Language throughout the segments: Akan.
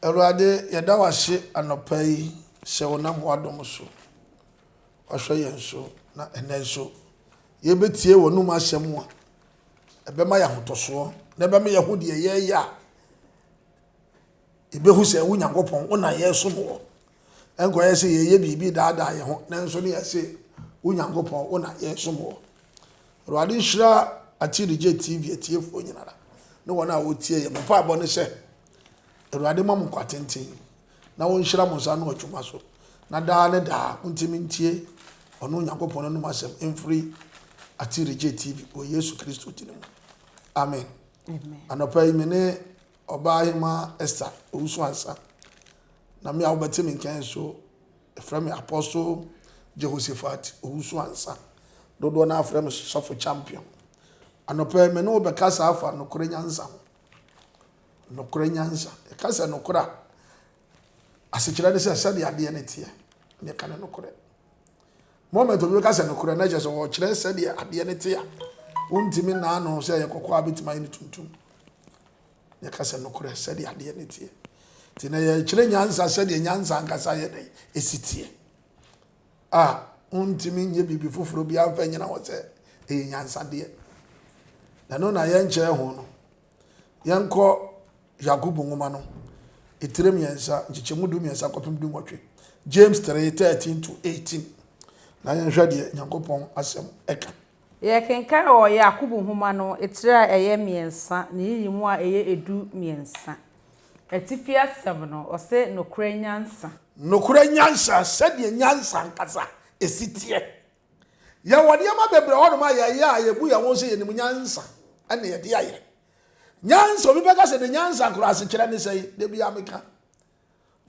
Awurade, yɛda wo ase anɔpa yi sɛ wonam w'adom so woahwɛ yɛn so, na ɛnnɛ nso yɛbɛtie w'anom asɛm a ɛbɛma yɛn ahotɔsoɔ na ɛbɛma yɛahu deɛ yɛreyɛ a, yɛbɛhu sɛ wo Nyankopɔn, wo na yɛresom woɔ. Ɛnkɔyɛ sɛ yɛreyɛ biribi redaadaa yɛn ho, nanso ne yɛse, Wo Nyankopɔn, wo na yɛresom wo. Awurade nhyira Akyirigye TV atiefoɔ nyinara ne wɔn a wɔtie yɛn. Me mpaebɔ ne sɛ, Awurade mma mo nkwa tenten na ɔnhyira mo nsa ano adwuma so, na daa ne daa montumi ntie ɔno Onyankopɔn no anom asɛm mfiri Akyirigye TV wɔ Yesu Kristo din mu. Amen. Amen. Anɔpa yi me ne Ɔbaahemaa Esther Owusu-Ansah, na me a wobɛte me nka yi nso, wɔfrɛ me Apostle Jehoshaphat Owusu-Ansah. Dodoɔ no ara frɛ me Sɔfo Champion. Anɔpa yi, me ne wo bɛkasa afa nokorɛ nyansa ho. Nokorɛ nyansa. Yɛka sɛ nokorɛ a, asekyerɛ ne sɛ sɛdeɛ adeɛ no teɛ, na yɛka no nokorɛ. Moment obi bɛka sɛ nokorɛ na kyerɛ sɛ ɔkyerɛ sɛdeɛ adeɛ no te a wontumi naa no sɛ ɛyɛ kɔkɔɔ a bɛtumi ayɛ no tuntum. Na ɛka sɛ nokorɛ sɛdeɛ adeɛ no teɛ. Nti na yɛkyerɛ nyansa sɛdeɛ nyansa ankasa yɛ dɛn ɛsi teɛ a wontumi nyɛ biribi foforɔ biara mfa nyina hɔ sɛ ɛyɛ nyansadeɛ. Na no na yɛnkyerɛ ho no Yɛnkɔ Yakobo nwoma no etire mmiɛnsa, nkyekyɛmu du mmiɛnsa kɔpem du nwɔtwe, James three, thirteen to eighteen, na yɛnhwɛ deɛ Nyankopɔn asɛm ɛka. Yɛkenkan wɔ Yakobo nwoma no etire a ɛyɛ mmiɛnsa ne nyiyimu a ɛyɛ edu mmiɛnsa, atifi asɛm no, ɔse, Nokorɛ nyansa. Nokorɛ nyansa, sɛdeɛ nyansa ankasa esi teɛ. Yɛwɔ nneɛma bebree wɔ hɔnom a yɛyɛ a yebu yɛn ho sɛ yenim nyansa na yɛde ayɛ. Nyansa, obi bɛka sɛ ne nyansa koro asekyerɛ ne sɛn? Da bi a meka.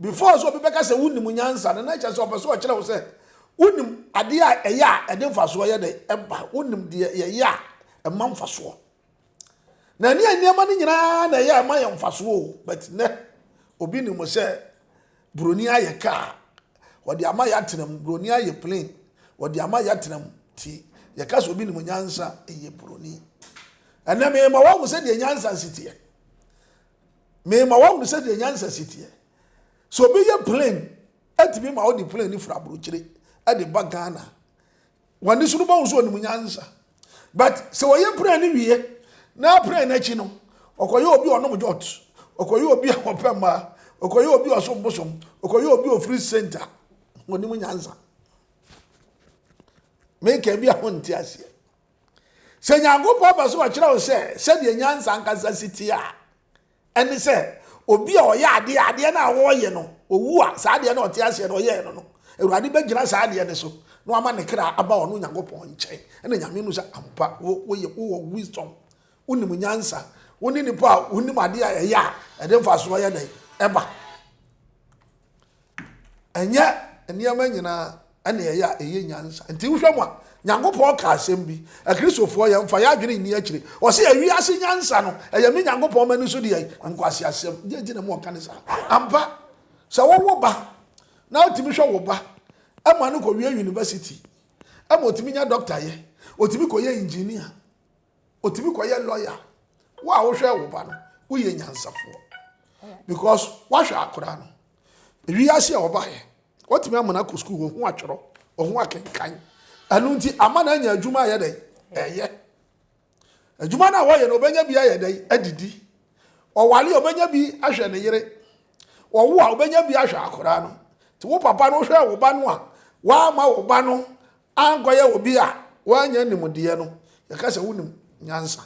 Before sɛ obi bɛka sɛ wonim nyansa no, na kyerɛ sɛ ɔpɛ sɛ ɔkyerɛ wo sɛ wonim adeɛ a ɛyɛ a ɛde mfasoɔ yɛ dɛ ɛba, wonim deɛ yɛyɛ a ɛma mfasoɔ. na ɛne nneɛma no nyinaa na ɛyɛ ɛma yɛ mfasoɔ o but nɛ obi nim sɛ buroni ayɛ kaa wɔde ama yɛ atena mu buroni ayɛ plane wɔde ama yɛ atena mu ti yɛka sɛ obi nim nyansa ɛyɛ buroni ɛnɛ mema wɔahu sɛ deɛ nyansa si teɛ mema wɔahu sɛ deɛ nyansa si teɛ sɛ obi yɛ plane ɛtumi ma wɔde plane no firi aburokyire ɛde ba ghana Wɔde so no bɔhu sɛ ɔnim nyansa. But sɛ ɔyɛ prayer no wie na prayer no akyi no ɔkɔyɛ obi ɔnom jot, ɔkɔyɛ obi a ɔpɛ mmaa, ɔkɔyɛ obi ɔsom bosom, ɔkɔyɛ obi ofiri center, ɔnim nyansa. Meka bi a honte aseɛ. Sɛ Nyankopɔn pɛ sɛ ɔkyerɛ wo sɛ sɛdeɛ nyansa ankasa si te a, Ɛne sɛ, obi a ɔyɛ adeɛ a, adeɛ no a ɔreyɛ no, ɔwu a, saa adeɛ no a ɔte aseɛ no ɔyɛɛ no no, Awurade bɛgyina saa adeɛ no so na wama ne kra aba ɔno Nyankopɔn nkyɛn, ɛna Nyame hu sɛ ampa wo, woyɛ, wowɔ wisdom, wonim nyansa, wo ne nipa a wonim adeɛ a ɛyɛ a ɛde mfasoɔ yɛ dɛn? Ɛba. ɛnyɛ nneɛma nyinaa ɛna ɛyɛ a ɛyɛ nyansa nti wohwɛ mu a nyankopɔn ka asɛm bi akristofoɔ yɛn fa yɛ adwene nni akyire ɔsɛ ɛwi ase nyansa no ɛyɛ me nyankopɔn ma ni so deɛ nkwasi asɛm deɛ nti na mu ɔka ne saa ampa sɛ wɔwɔ ba na ɔtumi hwɛ wɔ ba ɛma no kɔ wie university ɛma ɔtumi nya doctor yɛ ɔtumi kɔ yɛ engineer ɔtumi kɔyɛ lawyer wo a wohwɛ wo ba no woyɛ nyansafoɔ because woahwɛ akora no ɛwi ase a ɔbaeɛ watumi amana kɔ sukuu ɔho atwerɛ ɔho akenkan ɛno nti ama no anya adwuma ayɛ dɛn ɛyɛ adwuma no a wɔyɛ no ɔbɛnya bi ayɛ dɛn adidi ɔwale a ɔbɛnya bi ahwɛ ne yere ɔwo a ɔbɛnya bi ahwɛ akora no nti wo papa no wohwɛ wo ba no a woama wo ba no ankɔyɛ obi a wannya nimdeɛ no, yɛka sɛ wonim nyansa.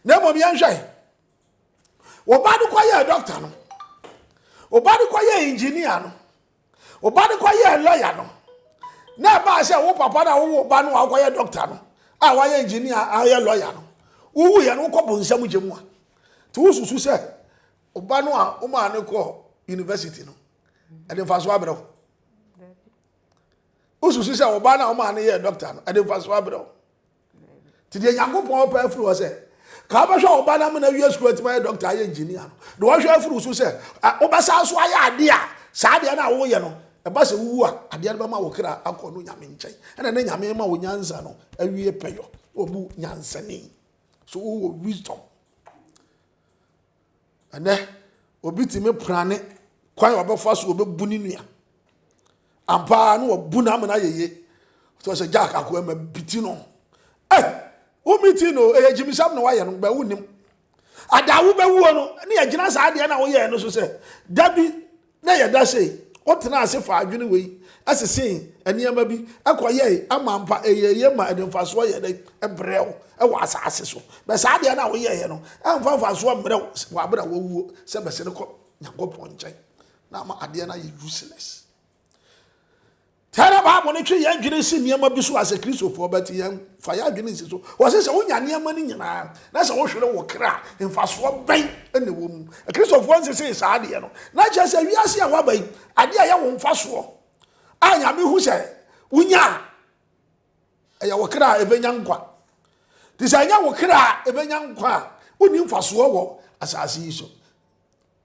Na mmom yɛnhwɛ, wo ba no kɔyɛɛ dɔkta no, wo ba no kɔyɛɛ engineer no, wo ba no kɔyɛɛ lawyer no, na ɛbaa sɛ wo papa no a wowɔ ba no a wokɔyɛ dɔkta no a wayɛ engineer a ɔyɛ lawyer no wowu yɛ no wokɔ bonsam gye mu a nti wosusu sɛ ɔba no a womaa no kɔ university no ɛde mfa so abrɛ wo wosusu sɛ ɔbaa no a ɔmaa no yɛɛ dɔkta no ɛde mfaso abrɛ wo nti deɛ nyankopɔn ɔpɛ afiri hɔ sɛ ka wobɛhwɛ ɔba no amena wie sukuu atumi ayɛ dɔkta ayɛ engineer no de wɔhwɛ afiri wo so sɛ wobɛsan so ayɛ adeɛ a saa adeɛ no a woyɛ no ɛba sɛ wowu a adeɛ no bɛma wo kra akɔ no nyame nkyɛn ɛna ne nyame ma wo nyansa no awie pɛyɔ wɔbu nyansani so wowɔ wisdom Ɛnnɛ, obi tumi prane kwan a ɔbɛfa so ɔbɛbu ne nua. Ampa ara na wabu no ama no ayɛ yie. Ɔtɔ sɛ Jack akoa ma biti no. Ɛ eh, wo miti no ɛyɛ gyimisɛm na wayɛ no bɛ wonim. Ada wobɛwuo no ne yɛgyina saa adeɛ na woyɛɛ no so sɛ da bi na ɛyɛ dɛ sɛ wotenaa ase faa adwene wei sesee nneɛma bi kɔyɛe ama ampa ɛyɛɛ ye ma ɛde mfasoɔ yɛɛ dɛ brɛɛ wo wɔ asaase so. Bɛ saa adeɛ no a woyɛeɛ no mfa mfasoɔ mmrɛ wo wɔ aberɛ a woawuo sɛ bɛsene kɔ Nyankopɔn nkyɛn na ama adeɛ no ayɛ useless. Sɛ na Bible no twe yɛn adwene si nneɛma bi so a, sɛ Kristofo bɛte yɛn fa yɛn adwene nsi so. Wɔse sɛ wonya nneɛma no nyinaa na sɛ wohwere wo kra a, mfasoɔ bɛn na ɛwɔ mu? Kristofo nsesee saa adeɛ no. Na kyerɛ sɛ wiase a woaba yi, adeɛ a ɛyɛ wo mfasoɔ a Nyame hu sɛ wonya a, ɛyɛ wo kra a ɛbɛnya nkwa. Nti sɛ ɛnyɛ wo kra a ɛbɛnya nkwa a, wonni mfasoɔ wɔ asase yi so.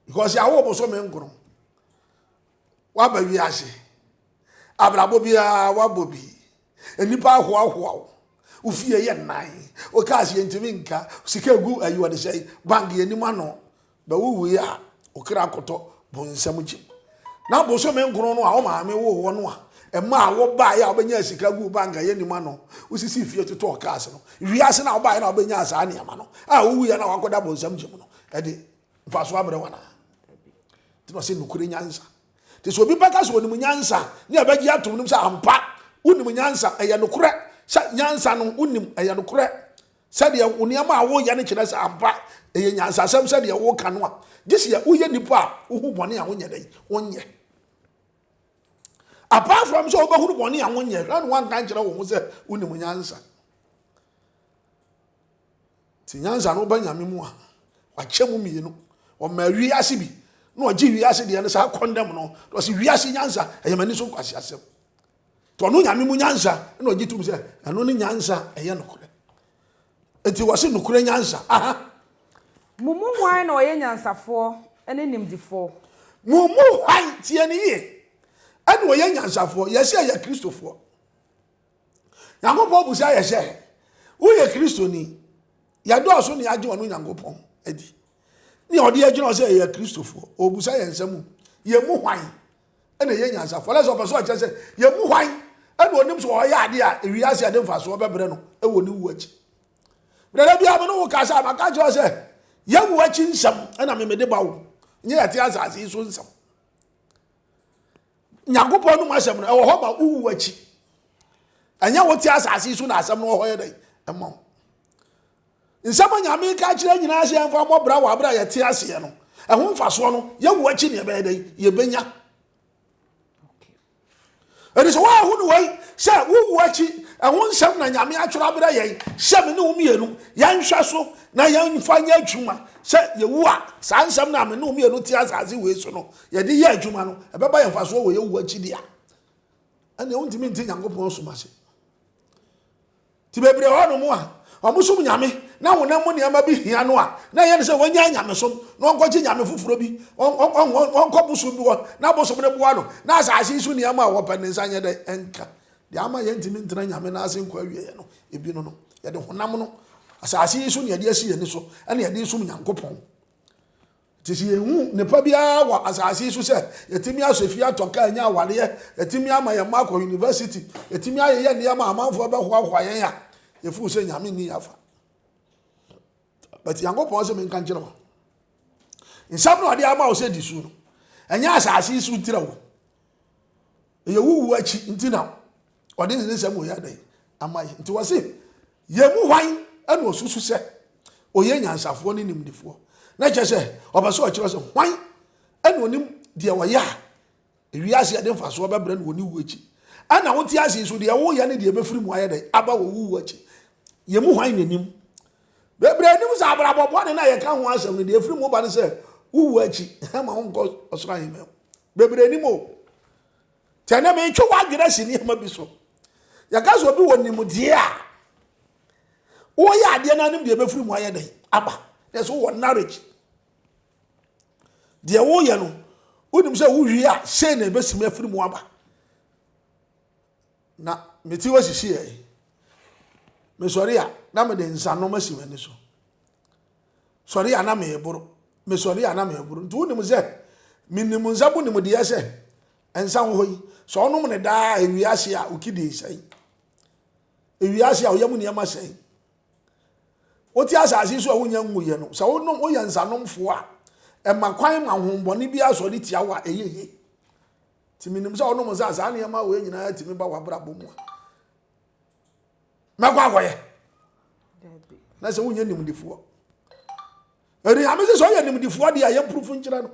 Because yɛawo bosome nkron. Woaba wiase. Abrabɔ biara woabɔ bi. Nnipa ahoahoa wo. Wo fie yɛ nnan. Wo cars yɛntumi nka. Sika egu ayi wɔde sɛ bank yɛnim ano. Bɛ wowui a, wo kra kɔtɔ bonsam kyim. Na bosome nkron no a wo maame woo wo no a, ɛmaa wobaeɛ a wobɛnyaa sika guu bank a yɛnim ano. Wosisii fie totɔɔ cars no. Wiase no a wobaeɛ na wobɛnyaa saa nneɛma no a wowuiɛ na woakɔda bonsam kyim no, ɛde mfasoɔ abrɛ wo anaa? Nti na ɔse nokore nyansa. Nti sɛ obi bɛka sɛ onim nyansa ne ɛbɛgye atom nom sɛ ampa wonim nyansa, ɛyɛ nokorɛ sɛ nyansa no wonim, ɛyɛ nokorɛ sɛdeɛ wo nneɛma a woyɛ no kyerɛ sɛ ampa ɛyɛ nyansasɛm sɛdeɛ woka no a, gye sɛ woyɛ nipa a wohu bɔne a wonyɛ dɛn, wonyɛ. Apart from sɛ wobɛhunu bɔne a wonyɛ, hwɛ na woanka nkyerɛ wo ho sɛ wonim nyansa. Nti nyansa no woba nyame mu a wakyɛ mu mmienu ɔma wiase bi na ɔgye wiase deɛ no saa kɔndɛm no na ɔsi wiase nyansa ɛyɛ m'ani so nkwasi asɛm nti ɔno nyame mu nyansa na ɔgye tum sɛ ɛno ne nyansa ɛyɛ nokorɛ nti wɔsi nokorɛ nyansa aha. Mo mu hwan na ɔyɛ nyansafoɔ ne nimdefoɔ? Mo mu hwan tie ne yie ɛna ɔyɛ nyansafoɔ yɛsi ɛyɛ kristofoɔ. nyankopɔn busa yɛ sɛ woyɛ kristoni yɛdɔɔso ne yɛagye ɔno nyankopɔn adi ne ɔde agyina sɛ yɛyɛ kristofoɔ ɔbusa yɛn nsɛm mu yɛn mu hwan ɛna ɛyɛ nyansafoɔ lɛ sɛ ɔpɛ sɛ ɔkyerɛ sɛ yɛn mu hwan ɛna ɔnim sɛ ɔyɛ adeɛ a ewiase ɛde mfasoɔ bɛbrɛ no ɛwɔ ne wu akyi berɛ bi a me ne wo kasa maka kyerɛ sɛ yɛwu akyi nsɛm ɛna memede ba wo nyɛ yɛte asase yi so nsɛm Nyankopɔn no mu asɛm no ɛwɔ hɔ ma wowu akyi. Ɛnyɛ wote asase yi so na asɛm no wɔ hɔ yɛ dɛn ɛma wo. Nsɛm a Nyame ka kyerɛ nyinaa sɛ yɛmfa mmɔ bra wɔ abere a yɛte aseɛ no, ɛho mfasoɔ no yɛwu akyi ne ɛbɛyɛ dɛn yɛbɛnya. Ɛde sɛ woahu no wei sɛ wowu akyi ɛho nsɛm na Nyame atwerɛ aberɛ yɛn sɛ me ne wo mmienu yɛnhwɛ so na yɛmfa nyɛ adwuma sɛ yɛwu a saa nsɛm no a me ne wo mmienu te asase wei so no Yɛde yɛ adwuma no, ɛbɛba yɛn mfasoɔ wɔ yɛwu akyi deɛ a, ɛnna wontumi nte Nyankopɔn som ase. Ti bebree hɔ nom a, wɔn som nyame na honam mu nneɛma bi hia no a, na ɛyɛ no sɛ wɔnyɛ nyamesom na wɔnkɔgye nyame foforɔ bi, wɔnkɔ bosom bi hɔ na bosom no boa no na asase so nneɛma a wɔpɛ ne nsa nyɛ dɛ ɛnka. Deɛ ama yɛntumi ntena nyame no ase nkɔ awieɛ no, ebi no no, yɛde honam no asase yi so na yɛde asi yɛn ani so na yɛde som Nyankopɔn. Te sɛ yenhu nnepa biara wɔ asase yi so sɛ yɛatumi asɔ fie, atɔ kaa, anya awareɛ, yɛatumi ama yɛn mma akɔ yunivasiti, yɛatumi ayeyɛ nneɛma a amanfoɔ bɛhoahoa yɛn a, yɛfuu sɛ Nyame nni yɛn afa. But Nyankopɔn sɛ menka nkyerɛ wo. Nsɛm na ɔde ama wo sɛ di so no, ɛnyɛ asase yi so tira wo. ɛyɛ wo wuo akyi nti na ɔde ne nsɛm wei adɛn ama yɛ nti wɔse yɛn mu hwan ɛna ɔsusu sɛ ɔyɛ nyansafoɔ ne nimdefoɔ na kyerɛ sɛ ɔpɛ sɛ ɔkyerɛ sɛ hwan ɛna ɔnim deɛ ɔyɛ a ewiase yɛde mfasoɔ bɛbrɛ no wɔ ne wuo akyi ɛna wote ase so deɛ woyɛ ne deɛ bɛfiri mu ayɛ dɛn aba wɔ wo wuo akyi yɛn mu hwan na nim bebree anim sɛ abrabɔ bɔne no a yɛka ho asɛm no deɛ ɛfiri mu ba no sɛ wowuo akyi ma wonkɔ ɔsoro ahemma mu Bebree nim o. Tɛ na metwe w'adwene asi nneɛma bi so. Yɛka sɛ obi wɔ nimdeɛ a, woyɛ adeɛ no anim deɛ ɛbɛfiri mu ayɛ dɛn aba. Na ɛsɛ wowɔ knowledge. Deɛ woyɛ no, wonim sɛ wowie a, sei na ɛbɛsimi afiri mu aba. Na mete hɔ sisi ɛ. Mesɔre a, na mede nsanom asi m'ani so. sɔre a na mereboro, mesɔre a na mereboro. Nti wonim sɛ menim nsa mu nimdeɛ sɛ nsa wɔ hɔ yi, sɛ ɔnom ne daa a ewie ase a okidin sɛe. Ewie ase a ɔyam nneɛma sɛe. Wote asase so a wonya nguyɛ no, sɛ wonom woyɛ nsanomfoɔ a, ɛma kwan ma honhommɔne bi asɔre tia wo a ɛyɛ yie. Nti menim sɛ ɔnom nsa a saa nneɛma wei nyinaa tumi ba w'abrabɔ mu a. mɛkɔ akɔyɛ na sɛ wonyɛ nimdefoɔ ɛnuame sɛ sɛ ɔyɛ nimdefoɔ deɛ a yɛmprofo nkyerɛ no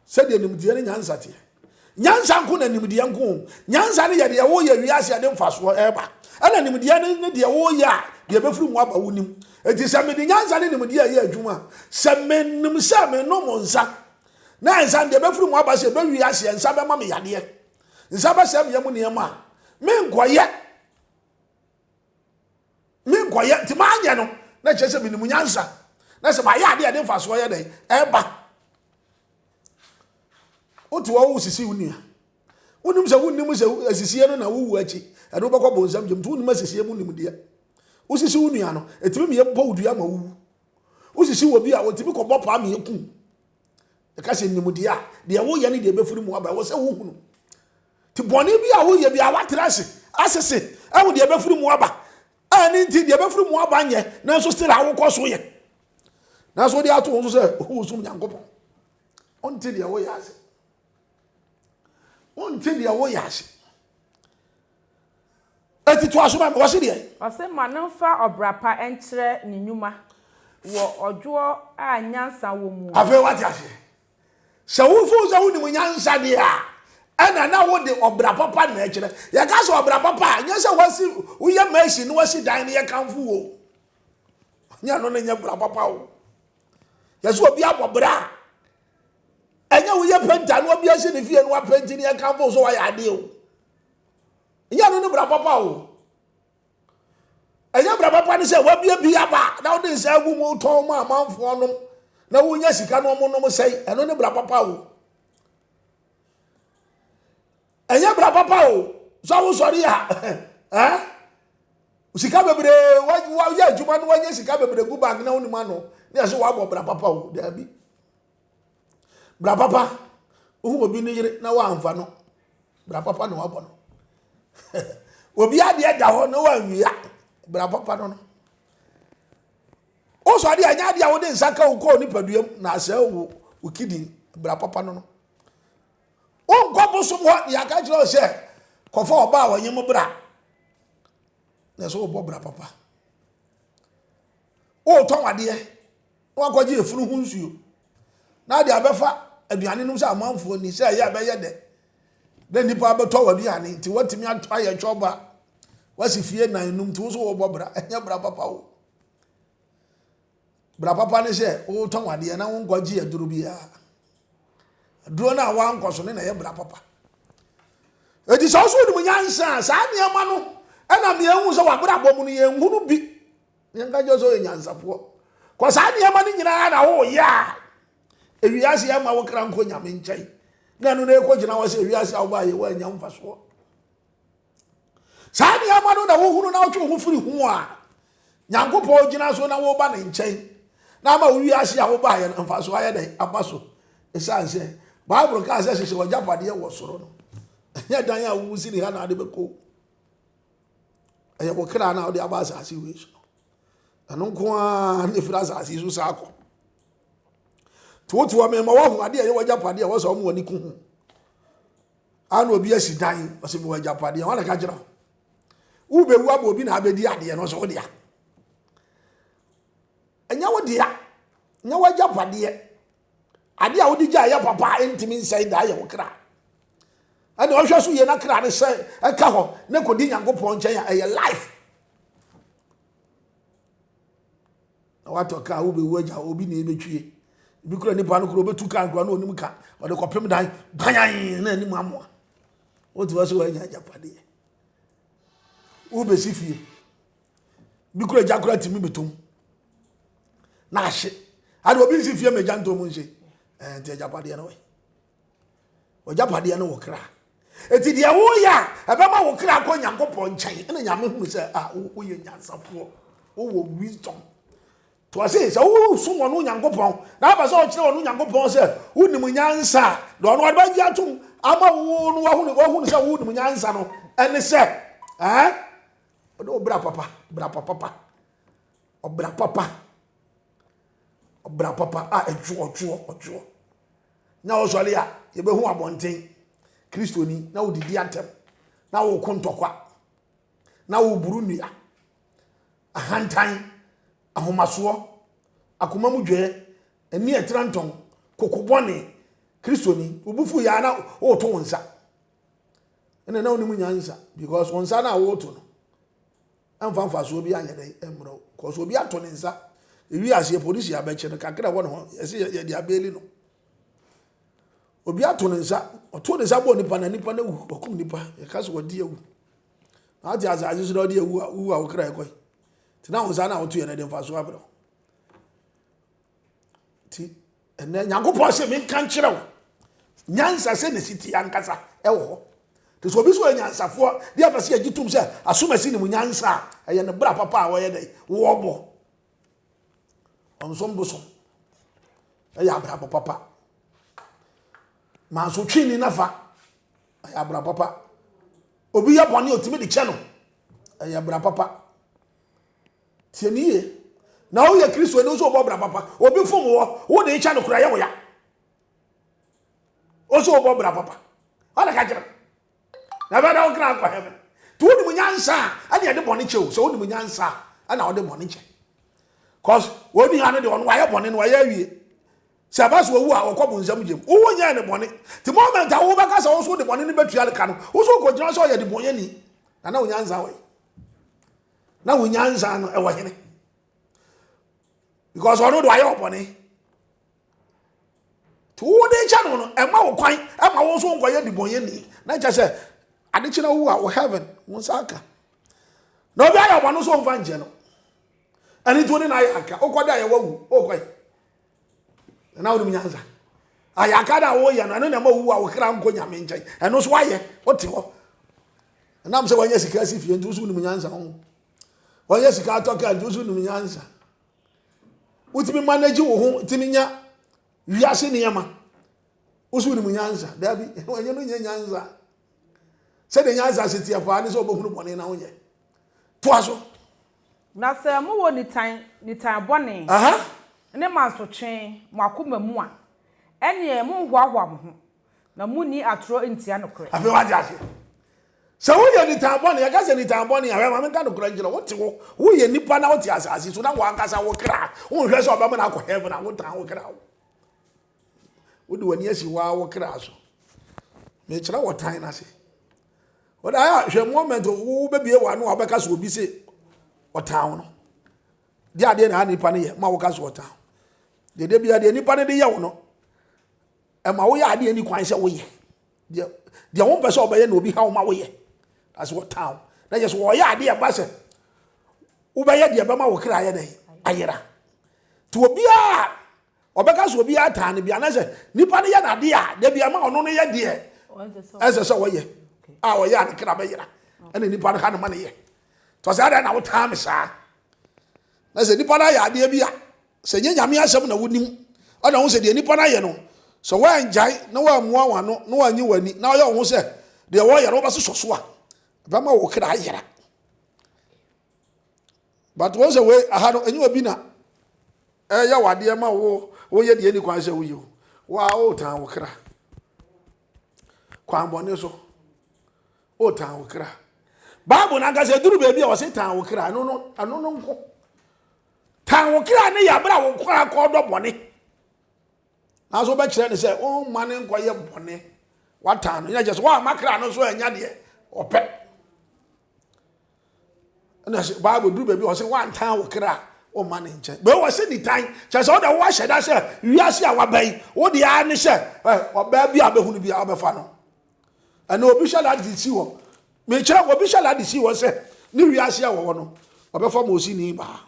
sɛdeɛ nimdeɛ no nyansa teɛ nyansa nko na nimdeɛ nko nyansa no yɛ deɛ woyɛ wiase ɛde mfasoɔ ɛba ɛna nimdeɛ no ne deɛ woyɛ a deɛ bɛfiri mu aba wonim ɛti sɛ mede nyansa ne nimdeɛ ɛyɛ adwuma sɛ menim sɛ menom nsa na nsa no deɛ bɛfiri mu aba sɛ bɛwi aseɛ nsa bɛma me yadeɛ nsa bɛhyɛ mmea mu nneɛma a menkɔyɛ menkɔyɛ nti maanyɛ no na kyerɛ sɛ menim nyansa na sɛ mayɛ adeɛ a ɛde mfasoɔ yɛ dɛn ɛba wote hɔ wo sisi wo nua wonim sɛ wonnim sɛ asisie no na wowu akyi ɛde wobɛkɔ bonsam gyam nti wonim asisie mu nimdeɛ wosisi wo nua no ɛtumi meyɛ bɔ wo dua ma wowu wosisi wɔ bi a wɔtumi kɔbɔ paa meyɛ kum Ɛka sɛ, Nimdeɛ a deɛ woyɛ ne deɛ ɛbɛfiri mu aba, ɛwɔ sɛ wohunu. Nti bɔne bi a woyɛ biara, woatra ase asese, ahu deɛ ɛbɛfiri mu aba. A ɛno nti, deɛ ɛbɛfiri mu aba nyɛ, nanso still a wokɔ so yɛ. Nanso wode ato wo so sɛ wosom Nyankopɔn. Wonte deɛ woyɛ ase. Wonte deɛ woyɛ ase. Eti to aso ma me, wɔse deɛn? Ɔse ma no mfa ɔbra pa nkyerɛ ne nnwuma wɔ ɔdwoɔ a nyansa wɔ mu. Afei wate aseɛ? Sɛ wo nso wo sɛ wonim nyansa deɛ a, ɛna na wode ɔbra papa na ɛkyerɛ. Yɛka sɛ ɔbra papa a, nyɛ sɛ wasi woyɛ mɛsi na wasi dan no yɛkamfo wo. Nyɛ no ne nyɛ bra papa o. Yɛsɛ obi abɔ bra a, ɛnyɛ woyɛ penta na obi asi ne fie na wapenti na yɛkamfo so wayɛ adeɛ o. nyɛ ɛno ne bra papa o ɛnyɛ bra papa ne sɛ wabie bi aba na wode nsa agu mu tɔn ma amanfoɔ nom na wonya sika no ɔmo nom sɛe ɛno ne bra papa o ɛnyɛ bra papa o sɛ wosɔre a eh? sika bebree wayɛ adwuma no wanya sika bebree gu bank na wonim ano ne ɛsɛ wabɔ bra papa o daabi Bra papa, wohu obi ne yere na woamfa no, bra papa na wabɔ no. obi adeɛ da hɔ na woanwia, bra papa no no. Wosɔ adeɛ ɛnyɛ adeɛ a wode nsa ka wo kɔɔ nipaduam na asɛe wo wo kidney, bra papa no no. Wonkɔ bosom hɔ deɛ aka kyerɛ wo sɛ kɔfa ɔba a wɔnye mo bra na ɛsɛ wobɔ bra papa. Wotɔn adeɛ na wɔakɔgye efunu ho nsuo, na de abɛfa aduane nom sɛ amanfoɔ ni, sɛ ɛyɛ a ɛbɛyɛ dɛ na nnipa abɛtɔ w'aduane nti woatumi ayɛ twɔb a woasi fie nan num nti wo so wobɔ bra, ɛnyɛ bra papa wo. Bra papa ne sɛ wotɔn adeɛ na wonkɔgye aduro biara. Aduro no a woankɔ so ne na ɛyɛ bra papa. Eti sɛ ɔso wonim nyansa a saa nneɛma no ɛna mmienu sɛ wabrabɔ mu no yɛnhunu bi Yɛnka nkyerɛ sɛ ɔyɛ nyansafoɔ. Kɔ saa nneɛma no nyinaa na woyɛ a, ewiase ɛma wo kra nkɔ nyame nkyɛn. Na ɛno na ɛkɔgyina hɔ sɛ ewiase a wobaa yɛ woanya mfasoɔ. Saa nneɛma no na wohunu na wotwe ho firi ho a, Nyankopɔn gyina so na woba ne nkyɛn na ama wo wiase a wobaa yɛ no mfasoɔ ayɛ dɛn aba so. Ɛsiane sɛ Bible kaa sɛ hyehyɛ w'agyapadeɛ wɔ soro no, ɛnyɛ dan a wosi ne ha na ade bɛkɔ. Ɛyɛ wo kra na wode aba asase wei so. Ɛno nko ara na ɛfiri asase so saa kɔ. Nti wote hɔ mema woahu adeɛ ɛyɛ w'agyapadeɛ a wɔsɛ ɔmo w'ani ku ho. Ana obi asi dan ɔsɛ mewɔ agyapadeɛ wɔn na ka kyerɛ wo. Wobɛwu abɔ obi na abɛdi adeɛ no ɔsɛ wo dea. Ɛnyɛ wo dea. Nyɛ w'agyapadeɛ. Ade a wode gye a ɛyɛ papa a ɛntumi nsɛe da yɛ wo kra. Ɛna ɔhwɛ so yie na kra ne sɛ ɛka hɔ na ɛkɔdi Nyankopɔn nkyɛn a ɛyɛ life. Na watɔ kra wobɛwu agya obi na ɛbɛtwie. Ebi kura nipa no kura ɔbɛtu kra nkura na ɔnim ka ɔde kɔpem dan banyan na anim amoa. Wotu hɔ so wanya agyapadeɛ. Wobɛsi fie. bi kura gya kura tumi betom na ahye ade obi nsi fie ma gya ntom nhye ɛɛ eh, nti agyapadeɛ no wɛ ɔgyapadeɛ no wɔ kra eti deɛ woyɛ a ɛbɛma wo kra kɔ nyankopɔn nkyɛn ɛna nyame hunu sɛ a ah, woyɛ nyansafoɔ wowɔ wisdom to ase sɛ wosom wɔn onyankopɔn na aba sɛ ɔkyerɛ wɔn onyankopɔn sɛ wonim nyansa a na ɔno ɔde bɛgye atom ama wo no wahunu sɛ wonim nyansa no ɛne sɛ ɛɛ. Eh? Ɔde ɔbra papa, bra papa pa. Ɔbra papa. Ɔbra papa a ɛtwo ɔtwoɔ ɔtwoɔ. Na ɔsɔre a yɛbɛhu abɔnten kristoni na wodidi atɛm na woko ntɔkwa na woburu nnua ahantan ahomasoɔ akoma mu dwɛɛ ani ɛtra ntɔn kokobɔne kristoni wobufu yɛ a na woto wo nsa ɛna na wonim nyansa because wɔn nsa no a woreto no ɛmfa mfasoɔ bi anyɛ dɛ ɛmmerɛ wo because obi ato ne nsa ewi aseɛ polisi abɛkyɛ no kakra ɛwɔ ne ho ɛsɛ yɛde abɛɛli no obi ato ne nsa ɔto ne nsa bɔ nipa na nipa no awu ɔkum nipa yɛka sɛ wɔde awu na ate asase so na ɔde awu a wowu a wokra ɛkɔe nti na wo nsa no a woto yɛ no de mfasoɔ abrɛ wo nti ɛnɛ nyankopɔn sɛ menka nkyerɛ wo nyansa sɛ ne siti ankasa ɛwɔ hɔ nti sɛ obi so yɛ nyansafoɔ de apɛ sɛ yɛgye tom sɛ asomasi ne mu nyansa a ɛyɛ ne bra papa a wɔyɛ dɛ wɔbɔ ɔnsom bosom ɛyɛ abrabɔ papa manso twe ni nafa ɛyɛ abra papa obi yɛ bɔne ɔtumi de kyɛ no ɛyɛ bra papa Tie me yie. Na woyɛ Kristoni nso wobɔ bra papa. Obi fom wɔ, wode kyɛ no kora yɛ wo ya. Nso wobɔ bra papa. Ɔna ka kyerɛ. Na bɛ dɛ wokra akɔ heaven. Ti wonim nyansa a, ɛne ɛde bɔne kyɛ o. Sɛ wonim nyansa a, ɛna wode bɔne kyɛ. Cause wɔn nua no de wɔn wayɛ bɔne no wayɛ awie. Sɛ ɛba so owu a wɔkɔ bo nsɛm gyem. Wo nyɛ ne bɔne. Ti moment a wobɛka sɛ wo so de bɔne no bɛtua ka no, wo so kɔgyina sɛ ɔyɛ de bɔnyɛni. Na na onyansa wɔ yi. na wo nyansa no ɛwɔ hene because ɔno do ayɛ ɔbɔne nti wode kyɛ no no ɛma wo kwan ɛma wo nso nkɔyɛ dibɔnyɛni na kyɛ sɛ ade kyena wo a wo heaven wo nsa aka na obi ayɛ ɔbɔne so ɔmfa nkyɛ no ɛne nti wode no ayɛ aka wokɔda yɛ wawu wokɔe na wonim nyansa ayaka na woyɛ no ɛno na ɛma owu a wokra nkɔ nyame nkyɛn ɛno nso wayɛ wote hɔ ɛnam sɛ wanyɛ sika asi fie nti woso wonim nyansa ho wanyɛ sika atɔ kaa nti woso wonim nyansa wotumi manage wo ho tumi nya wiase nneɛma woso wonim nyansa daabi ɛnyɛ no nyɛ nyansa sɛdeɛ nyansa aseteɛ paa ne sɛ wɔbɛhunu bɔne na wonyɛ toa so Na sɛ mowɔ nitan, nitan bɔne, ne mansotwe mo akoma mu a, ɛnneɛ monnhoahoa mo ho, na monni atorɔ ntia nokorɛ. Afei wate aseɛ? Sɛ woyɛ nitan bɔne, yɛka sɛ nitan bɔne a, hwɛ ma menka nokorɛ nkyerɛ wo, wote hɔ, woyɛ nipa na wote asase so, na w'ankasa wo kra, wonhwɛ sɛ ɔbɛma no akɔ heaven a, wotan wo kra wo. Wode w'ani asi waa wo kra so. Mekyerɛ wɔ tan no ase. Wode ayɛ hwɛ moment wobɛbie w'ano a wobɛka so obi se ɔtan wo no. Di adeɛ na nipa no yɛ ma woka so ɔtan. Dede bia deɛ nipa no de yɛ wo no ɛma woyɛ adeɛ ni kwan sɛ woyɛ. Deɛ deɛ wo mpɛ sɛ ɔbɛyɛ na obi ha wo ma woyɛ. That's what town. Na yɛ so wɔyɛ adeɛ ba sɛ wobɛyɛ deɛ bɛma wo kra yɛ dɛn ayera. To obiara Ɔbɛka sɛ obiara taa no bi anaasɛ nipa no yɛ n'ade a dabi ama ɔno no yɛ deɛ ɛsɛ sɛ ɔyɛ a ɔyɛ a ne kra bɛyera ɛna nipa no ha no ma no yɛ tɔ sɛ adɛn na wotaa me saa na sɛ nipa no ayɛ adeɛ bi a sɛ nyɛ nyame asɛm na wonim ɛna wo sɛ deɛ nipa no ayɛ no sɛ woangyae na woammua wo ano na woanyi w'ani na ɔyɛ wo ho sɛ deɛ wɔyɛ no wobɛsosɔ so a bɛma wo kra ayera but wɔn sɛ wei aha no enyi obi na ɛyɛ wadeɛ ma wo woyɛ deɛ ni kwan sɛ woyɛ o wo a wotan wo kra kwan bɔne so wotan wo kra bible no ankasa ɛduru baabi a wɔse tan wo kra ɛno no ɛno no nko tan wo kra ne yɛ aberɛ a wo kra kɔdɔ bɔne nanso wobɛkyerɛ ne sɛ womma ne nkɔyɛ bɔne watan no yɛkyɛ sɛ woama kra no so anya deɛ ɔpɛ ɛna sɛ bible duru baabi ɔsɛ wantan wo kra ɔma ne nkyɛn bɛɛ wɔ sɛ nitan kyɛ sɛ ɔda woahyɛ da sɛ wiase a waba yi wode ara ne sɛ ɔbaa bi a bɛhunu bi a wobɛfa no ɛna obi hyɛ lade si hɔ mekyerɛ obi hyɛ lade si hɔ sɛ ne wiase a wɔwɔ no ɔbɛfa ma osi ne baa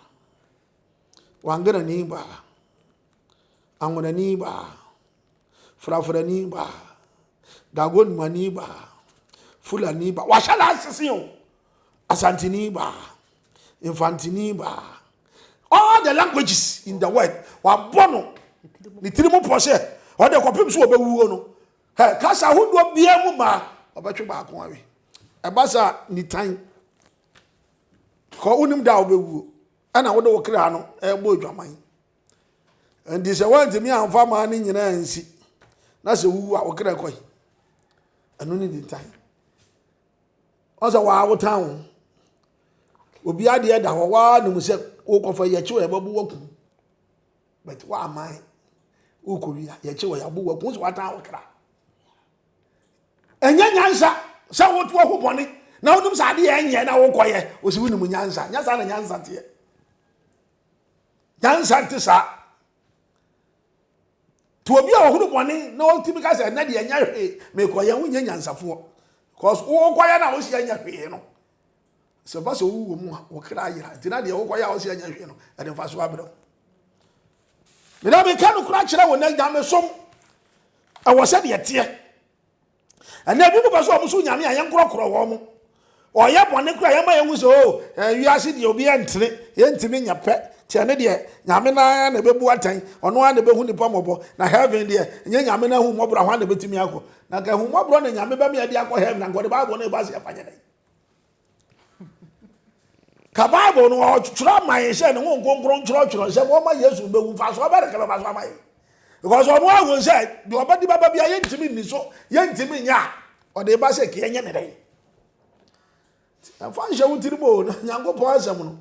wangana ne baa anwona ne baa frafrani ba dagonmani ba fulani ba wahyɛ no asese o asantini ba mfantini ba all the languages in the world wabɔ no ne tiri mu pɔ sɛ ɔde kɔpem so wɔbɛwuo no hɛ kasa ahodoɔ biara mu maa ɔbɛtwe baako awe ɛba sa nitan kɔ wonim da a wobɛwuo ɛna wode wo kra no ɛbɔ adwaman nti sɛ woantumi amfa maa no nyinaa nsi na sɛ wowu a wokra kɔi ɛno ne nintan ɔsɛ waa wotan wo obi adeɛ da hɔ waa nim sɛ wokɔfa yɛkye wɔ yɛbɛbo waku but woaman wokɔwi a yɛkye wɔ yɛabo waku sɛ woatan wo kra ɛnyɛ nyansa sɛ woto ho bɔne na wonim sɛ adeɛ ɛnyɛ na wokɔyɛ ɔsi wonim nyansa nyɛ saa na nyansa teɛ Nyansa nte saa. To obi a ɔhunu bɔne na ɔtumi ka sɛ ɛnɛ deɛ ɛnyɛ hwee mekɔ yɛn wonyɛ nyansafoɔ because wokɔyɛ no a wosi ɛnyɛ hwee no sɛ ba sɛ wowɔ mu a wokra ayera nti na deɛ wokɔyɛ a wosi ɛnyɛ hwee no ɛde mfa so abrɛ meda meka no kora kyerɛ wo nɛ nyamesom ɛwɔ sɛ deɛ teɛ Ɛnɛ ebinom pɛ sɛ wɔn so nyame a yɛnkorɔkorɔ wɔn. Wɔyɛ bɔne koraa yɛma yɛhu sɛ o eh, wiase deɛ obi ɛntene, yɛntumi nyɛ pɛ. Kyɛ ne deɛ nyame no ara na ɛbɛbu atɛn, ɔno ara na ɛbɛhu nipa mmɔbɔ. Na heaven deɛ nyɛ nyame no ahummɔborɔ hwan na ɛbɛtumi akɔ? Na nka ahummɔborɔ na nyame bɛma yɛde akɔ heaven, anka ɔde Bible no ɛbɔ aseɛ fa nyɛ dɛn? Ka Bible no ɔtwerɛ ama yɛn sɛ ne ho nkonkron twerɛtwerɛ sɛ wɔma Yesu bɛwu mfasoɔ bɛde ka bɛba so ama yɛn because ɔno ahu sɛ deɛ ɔbɛde bɛba bia yɛntumi nni so yɛntumi nyɛ a ɔde ba sɛ kee nyɛ ne dɛn ɛmfa nhyɛ wo tiri mu o na nyankopɔn asɛm no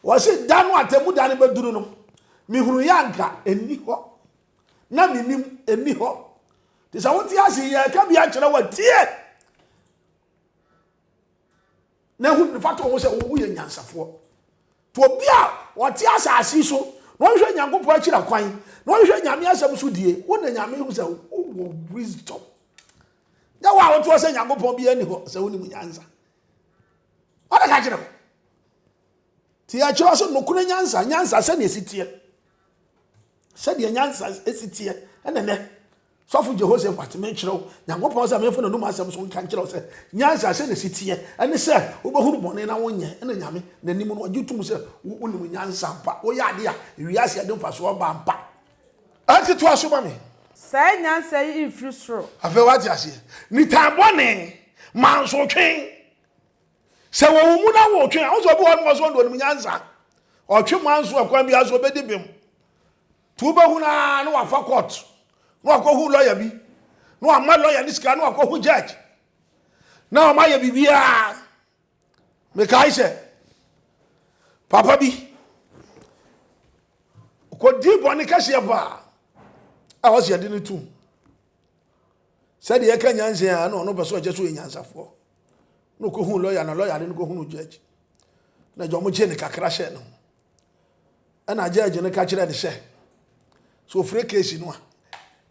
wɔse da no atɛmu da no bɛduru no mehunu yɛ anka ɛnni hɔ na menim ɛnni hɔ te sɛ wote ase yɛka bi akyerɛ watie na ɛho mfata wɔn sɛ wɔn mu yɛ nyansafoɔ nti obi a ɔte asase so na ɔhwɛ nyankopɔn akyira kwan na ɔhwɛ nyame asɛm so die wo na nyame hu sɛ wowɔ wisdom nyɛ wo a wotoɔ sɛ nyankopɔn bi ani hɔ sɛ wonim nyansa ɔde ka kyerɛ wo nti yɛkyerɛ so nokorɛ nyansa nyansa sɛdeɛ ɛsi teɛ sɛdeɛ nyansa ɛsi teɛ ɛnɛ nɛ Sɔfo Jehoshaphat, merekyerɛ wo Nyankopɔn sɛ memfa n'anom asɛm so nka nkyerɛ wo sɛ, Nyansa, sɛnea ɛsi teɛ, ɛne sɛ wobɛhunu bɔne na wonyɛ, ɛna Nyame, n'anim no, ɔgye tom sɛ wo, wonim nyansa ampa, woyɛ ade a wiase a ɛde mfaso aba ampa. Enti toa so ma me. Saa nyansa yi mfiri soro. Afei woate aseɛ. Nitan bɔne, mansotwe. Sɛ wɔwo mu na wotwe a, wo sɛ obi wɔ hɔ nom ɔsɛ ɔde ɔnim nyansa. Ɔtwe manso ɛkwan biara so, obɛdi bem. Nti wobɛhu no ara na wafa court na wakɔhu lawyer bi na wama lawyer no sika na wakɔhu judge na wɔn ayɛ biribiara mekae sɛ papa bi kɔdi bɔne kɛseɛ paa a wɔsi yɛde no tum sɛdeɛ yɛka nyansa a na ɔno pɛ sɛ ɔkyɛ so yɛ nyansafoɔ na ɔkɔhu lɔya na lɔya de no kɔhunu judge na gya ɔmogye ne kakra hyɛ no Ɛna judge no ka kyerɛ no sɛ, sɛ ofiri case no a,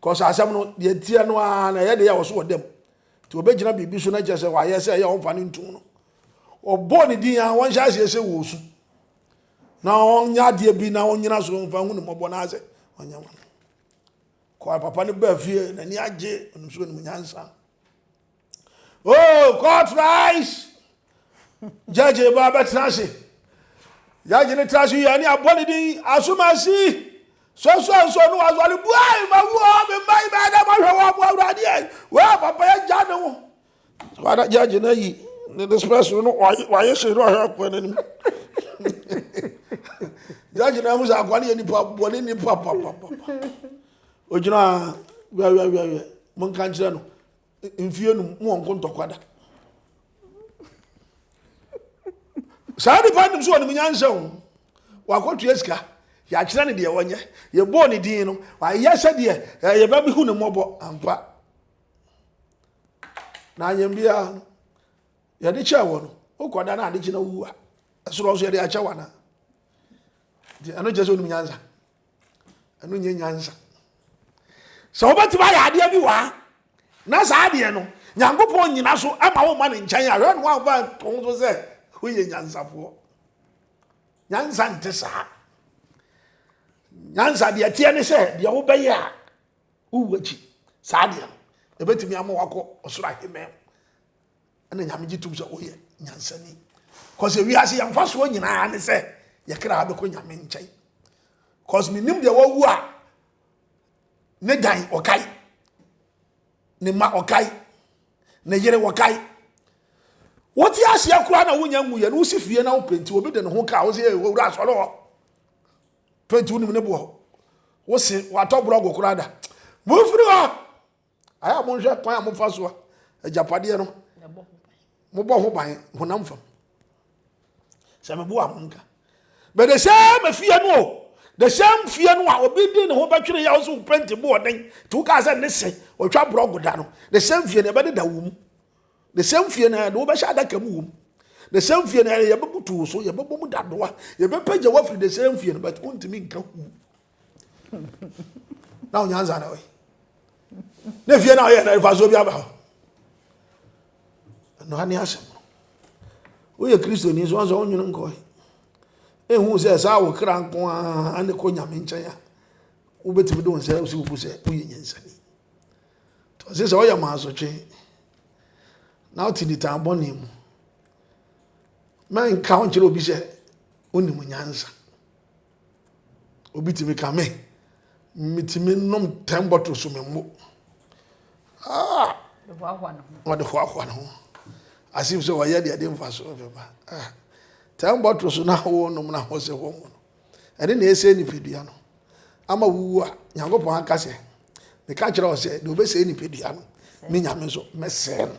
cause asɛm no deɛ teɛ no ara na ɛyɛ deɛ ɔso wɔ dam. Nti obɛgyina biribi so na kyerɛ sɛ wayɛ sɛ ɛyɛ ɔmfa no ntom no. Ɔbɔɔ ne din a wɔnhyɛ aseɛ sɛ wɔ su. Na ɔnyɛ adeɛ bi na ɔnyina so mfa hu ne mmɔbɔ no asɛ ɔnyɛ wɔn. Kɔa papa no baa fie n'ani agye ɔnim so ɔnim nyansa. oh court rise judge ba bɛtena ase judge ne tena ase yɛ ne abɔ ne din asomasi sɔsɔ nso no wasɔre buai ma wuo me mma yi bɛyɛ dɛ mahwɛ wɔ aboa awurade ɛ wɔ papa yɛ gya ne ho wada judge no ayi ne ne spɛs no wayɛ hyɛ no ɔhwɛ akoa no anim judge no ahu sɛ akoa no yɛ nipa bɔ ne nipa papapapa ogyina wiawiawiawiɛ monka nkyerɛ no mfie num mu wɔn nkontɔkwa da saa nipa nim so wɔn nyansa o wakɔtua sika yɛakyerɛ ne deɛ wɔnyɛ yɛbɔɔ ne din no wayɛ sɛdeɛ eh, yɛbɛ bi hu ne mmɔbɔ ampa na anyɛm biara no yɛde kyɛɛ wɔ no wokɔda no ade kyena wuwu a ɛsorɔ so yɛde akyɛ wana nti ɛno kyɛ sɛ wonim nyansa ɛno nyɛ nyansa sɛ wobɛtumi ayɛ adeɛ bi wɔ ha na saa adeɛ no nyankopɔn nyina so ma wo ma ne nkyɛn a hwɛ no woamfa nto so sɛ woyɛ nyansafoɔ nyansa nte saa nyansa deɛ teɛ ne sɛ deɛ wobɛyɛ a wowu akyi saa deɛ no ɛbɛtumi ama wakɔ ɔsoro ahemɛ ɛna nyame gye tom sɛ woyɛ nyansani cause ewiase yɛn mfasoɔ nyinaa ne sɛ yɛ kra abɛkɔ nyame nkyɛn cause menim deɛ wawu a ne dan ɔkae ne ma ɔkae ne yere ɔkae wote aseɛ koraa na wonya ngu yɛ no wosi fie na wopenti obi de ne ho kaa wo sɛ owura asɔre hɔ penti wonim ne boɔ wose watɔ borɔgo koraa da mofiri hɔ ayɛ a monhwɛ kwan a mofa so a agyapadeɛ no mobɔ ho ban honam fam sɛ meboa ho nka but the same afie no o the same fie no a obi di ne ho bɛtwere yɛ ɔso penti bo ɔden nti woka sɛ ne se ɔtwa borɔgo da no the same fie no ɛbɛdeda wo mu the same fie no ɛde wobɛhyɛ adaka mu wɔ mu the same fie no ɛde yɛbɛbutu wo so yɛbɛbɔ mu dadoa yɛbɛpɛgya woafiri the same fie no but wontumi nka hu na onyansa na ɔyɛ na fie na ɔyɛ na mfasoɔ bi aba hɔ ɛnoa ne asɛm no woyɛ kristoni so ansɛ wonwene nkɔe ɛhu sɛ saa wo kra nko a ne kɔ nyame nkyɛn a wobɛtumi de wo nsɛ wosi wobu sɛ woyɛ nyansani ɔse sɛ woyɛ maasotwe na wote nitan bɔne mu mɛnka wo nkyerɛ obi sɛ wonim nyansa Obi tumi ka me, metumi nom ten bottle so memmo. Ah! Wɔde hoahoa ne ho. Asem sɛ wɔyɛ deɛ de mfa so mfɛba. Ah! Ten bottle so na wɔnom na ho sɛ wɔn mu no. Ɛne na ɛsɛ nipadua no. Ama wuwu a, Nyankopɔn aka sɛ, meka kyerɛ wo sɛ, deɛ ɔbɛsɛe nipadua no, me nyame nso, mɛsɛe no.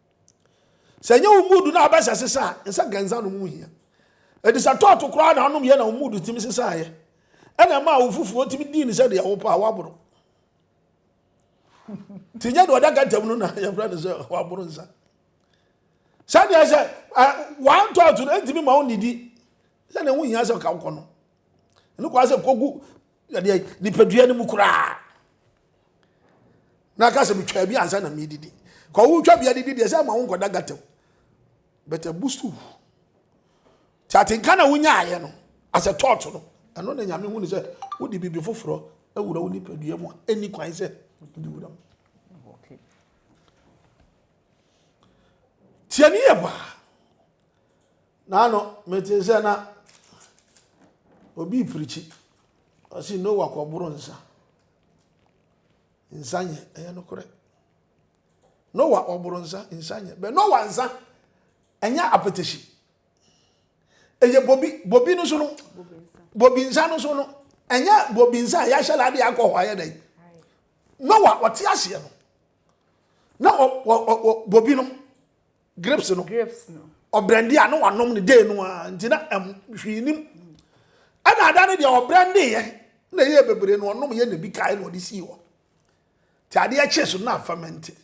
Sɛ ɛnyɛ wo mood na abɛsɛ sesa a, nsa ganza nom ho hia. Ɛdi sɛ tɔɔto koraa na anom yɛ na wo mood tumi sesaeɛ. Ɛna ɛma awo foforɔ tumi dii ne sɛdeɛ wopɛ a woaboro. Nti nyɛ deɛ ɔda gatam no na yɛfrɛ no sɛ waboro nsa. Sɛdeɛ sɛ wɔn tɔɔto no ntumi ma wo nidi sɛdeɛ ho hia sɛ ɔka wokɔ no. Ɛno kɔa sɛ kɔgu Ɛdeɛ nipadua no mu koraa. Na aka sɛ metwaa bi ansa na medidi. Ka wotwa bi adidi deɛ sɛ ma wo nkɔda gata mu. But abu so. Ti atenka na wonyaayɛ no as a thought no. Ɛno na nyame hu ne sɛ wode biribi foforɔ awura wo nipadua mu a ɛni kwan sɛ wode wura mu. Tiani yɛ baa. Naano metee sɛ na obi reprikyi. Ɔse Noa kɔboro nsa. Nsa nyɛ, ɛyɛ nokorɛ. Noa ɔboro nsa, nsa nyɛ. Bɛ Noa nsa, ɛnyɛ apetehyi. Ɛyɛ bobi, bobi no so no, bobi nsa no so no, ɛnyɛ bobi nsa a yɛahyɛ lade akɔ hɔ ayɛ dɛn. Noa ɔte aseɛ no, na bobi no, Grapes no. Grapes no. Ɔbrɛndee a na wanom no day no ara nti na ɛm hwee nim. Ɛna ada no deɛ ɔbrɛndee yɛ na ɛyɛ bebree na ɔnom yɛ na ebi kae na ɔde sii hɔ. Te adeɛ kyee so na fermented.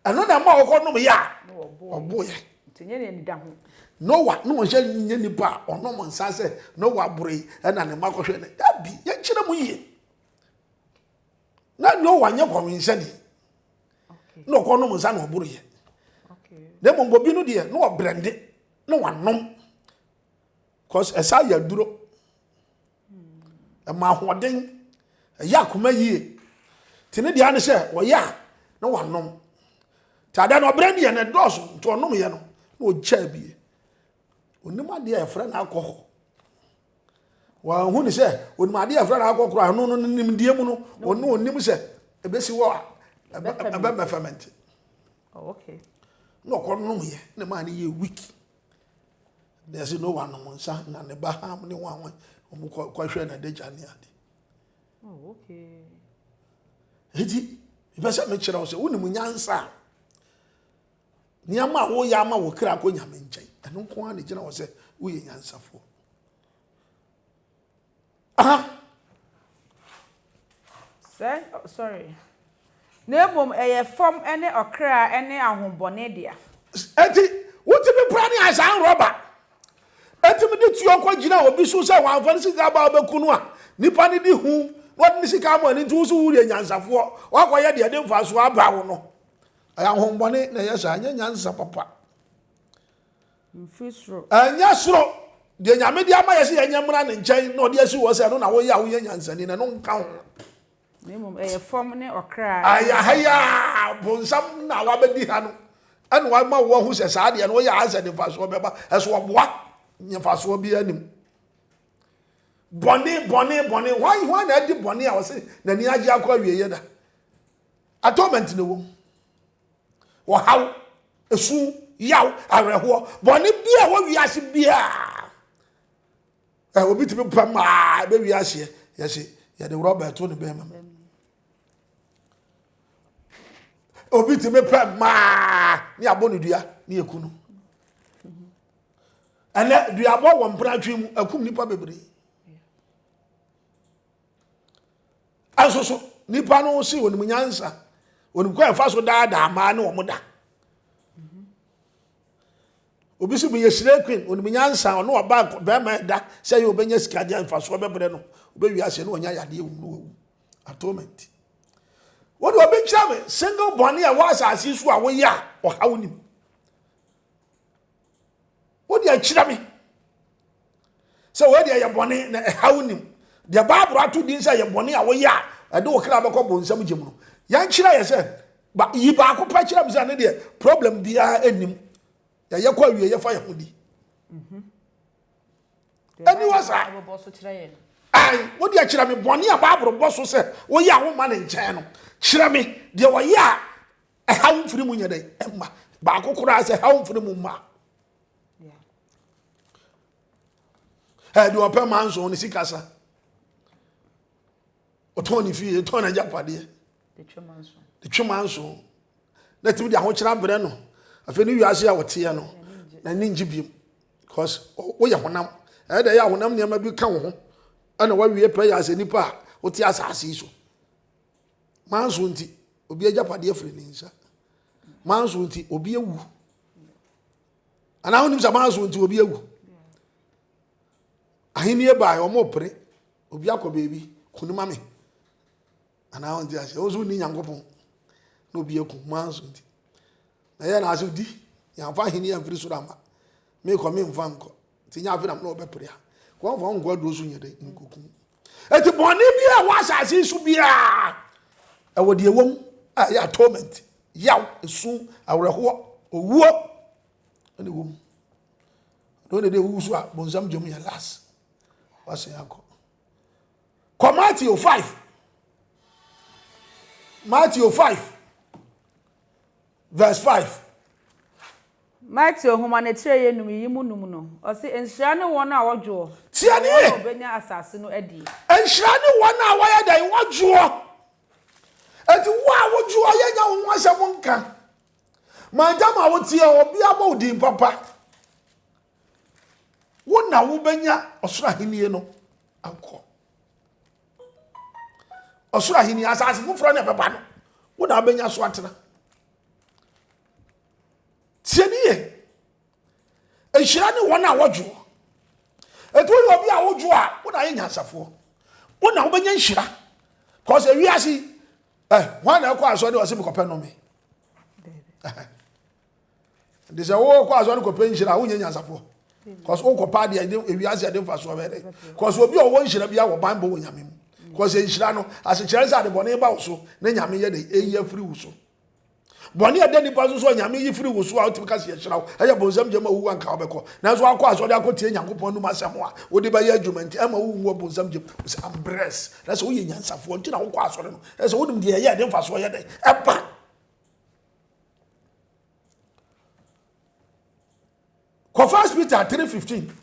Ɛno na ɛma ɔkɔ nom yɛ a ɔbo yɛ. Nti nyɛ nea nida ho. Noah na ɔnhyɛ nyɛ nipa a ɔnom nsa sɛ Noah boro yi ɛna ne mma kɔhwɛ no. Dabi, yɛnkyerɛ mu yie. na noa nyɛ kɔwenhyɛni na ɔkɔ nom nsa na ɔboro yɛ na mmom bobi no deɛ na ɔbrɛnde na wanom cause ɛsa yɛ aduro ɛma ahoɔden ɛyɛ akoma yie te ne deɛ ne sɛ ɔyɛ a na wanom te ada na ɔbrɛnde yɛ na ɛdɔɔso nti ɔnom yɛ no na ɔgyaa bie onim adeɛ a yɛfrɛ no alcohol Wɔahu no sɛ onim adeɛ a ɛfra no akɔkorɔ a ɛno no ne nimdeɛ mu no ɔno ɔnim sɛ ɛbɛsi hɔ a ɛbɛbɛ fɛmɛnte na ɔkɔ nom yɛ na maa no yɛ weak na ɛsɛ no wanom nsa na ne ba ham ne ho ahoɛ ɔmo kɔhwɛ na adagya ne ade oh, nti mepɛ sɛ mekyerɛ wo sɛ wonim nyansa a Nneɛma a woyɛ ama wo kra kɔ Nyame nkyɛn. Ɛno nko ara na gyina hɔ sɛ woyɛ nyansafoɔ. Aha. Sɛ, sorry. Na mmom ɛyɛ fam ne ɔkra ne ahobɔne dea. Enti, wotumi pra ne asan rɔba. Etumi de tuo kɔ gyina obi so sɛ wɔamfa ne sika aba abɛku no a, nipa no di hu na ɔde ne sika ama no nti wo so woyɛ nyansafoɔ, woakɔyɛ deɛ ɛde mfasoɔ aba wo no. Ɛyɛ ahohommɔne na ɛyɛ saa, ɛnyɛ nyansa papa. Mfiri soro. Ɛnyɛ soro. Deɛ nyame de ama yɛ sɛ yɛnyɛ mmra ne nkyɛn na ɔde asi wɔ sɛ ɛno na woyɛ a woyɛ nyansani na ɛno nka ho. Na mmom ɛyɛ fam ne ɔkra. Ɛyɛ ha yi a bonsam na wabɛdi ha no ɛna wama wo ahu sɛ saa deɛ no woyɛ a sɛ de mfasoɔ bɛba ɛso ɔboa nyɛ mfasoɔ biara nim. Bɔne bɔne bɔne hwan hwan na adi bɔne a ɔse n'ani agye akɔ awieɛ da. Atonement na ɛwɔ mu. Ɔhaw, esu, yaw, awerɛhoɔ, bɔne bi a ɛwɔ wiase biara. Ɛ obi tumi pam maa ɛbɛwie ahyeɛ yɛhye yɛde rɔba ɛto ne bɛrima mu. Obi tumi pam maa ne abɔ ne dua ne ɛku no. Ɛnɛ duabɔ wɔ mpratwe mu akum nipa bebree. Nanso so nipa no se onim nyansa, onim kwan ɛfa so daadaa mmaa ne wɔn da. Obi si meyɛ slay queen, onim nyansa, ɔne ɔba bɛrima ɛda sɛ yɛ obɛnya sika deɛ mfasoɔ bɛbrɛ no, obɛwie aseɛ ne ɔnya yadeɛ wum no wawu. Atonement. Wode ɔbɛkyerɛ me single bɔne a ɛwɔ asase so a woyɛ a ɔhaw nim. wode akyira me sɛ wei deɛ yɛ bɔne na ɛha wo nim deɛ bible ato din sɛ yɛ bɔne a woyɛ a ɛde wo kra bɛkɔ bonsam gye mu no yɛnkyerɛ yɛ sɛ ba yi baako pɛ kyerɛ me sɛ ne deɛ problem biara anim yɛyɛ kɔ awie yɛfa yɛ ho di mhm. ɛni wɔ saa ayi wode akyerɛ me bɔne a bible bɔ so sɛ woyɛ a woma ne nkyɛn no kyerɛ me deɛ wɔyɛ a ɛhaw mfiri mu nyɛ dɛn ɛma baako koraa sɛ ɛhaw mfiri mu mma ɛde ɔpɛ ma nso ne sikasa ɔtɔn ne fie ɔtɔn n'agyapadeɛ de twema nso na tumi de ahokyerɛ abrɛ no afei ne wiase a wɔteɛ no na ne ngye biem because woyɛ honam ɛyɛ dɛ yɛ a honam nneɛma bi ka wo ho ɛna wawie pɛ yɛ asɛ nipa a wote asase yi so Manso nti, obi agyapadeɛ firi ne nsa. Manso nti, obi awu. Anaa wonim sɛ manso nti, obi awu. Ahenni bae, wɔn pere. Obi akɔ baabi, kuni ma me. Anaa wɔn ti ase, wɔn nso ni nyankopɔn. Na obi aku, manso nti. Na yɛ na ase di, yɛnfa ahenni amfiri soro ama. Mekɔ, memfa nkɔ. Nti nyɛ afe na mene wɔbɛpere a. Wɔmfa nkɔ aduro so nyɛ dɛ, nkokum. Enti bɔne biara a ɛwɔ asase yi so biara, ɛwɔ deɛ ɛwɔ mu a ɛyɛ atonement, yaw, esu, awerɛhoɔ, owuo, ɛna ɛwɔ mu. Ɛdɔn dede ewu so a bonsam gyam yɛ last. Wasen akɔ. Kɔ Matthew 5. Matthew 5. Verse five. Mateo nhoma no akyirɛyɛ nnum yi mu nnum no, ɔse, Nhyira ne wɔn a wɔdwoɔ, Tie na wɔn nie. a wɔbɛnya asase no adie. Nhyira ne wɔn a wɔyɛ dɛn? Wɔdwoɔ. Enti wo a wodwoɔ, yɛnya wo ho asɛm nka. Mantam a woteɛ, obi abɔ wo din papa. Wo na wobɛnya ɔsoro ahennie no akɔ. ɔsoro ahenni asase foforɔ na ɛbɛba no wo na abɛnya so atena tie ne yɛ nhyira ne wɔn a wɔdwoɔ ɛti woyɛ obi a wodwoɔ a wo na ayɛ nyansafoɔ wo na wobɛnya nhyira kɔs ɛwiase eh, hwan na ɛkɔ asɔre ɔse mekɔpɛ nome nti sɛ wokɔ asɔre kɔpɛ nhyira a wonyɛ nyansafoɔ cause wokɔpa adeɛ ɛde ewiase ɛde mfasoɔ bɛyɛ dɛ cause obi a ɔwɔ nhyira bia wɔ banbɔ wɔ nyame mu cause nhyira no asekyerɛ sɛ ade bɔne ba wo so na nyame yɛ dɛ eyi afiri wo so bɔne a ɛda nipa so so a nyame yi firi wo so a wotumi ka sɛ yɛhyira wo ɛyɛ bonsam gyama wowu anka wobɛkɔ nanso akɔ asɔre akɔtie nyankopɔn num asɛm a wode bɛyɛ adwuma nti ɛma wowu wɔ bonsam gyam sɛ ambrɛs na sɛ woyɛ nyansafoɔ nti na wokɔ asɔre no ɛsɛ wonim deɛ ɛyɛ ɛde mfasoɔ yɛ dɛ ɛba Kɔ First Peter three fifteen.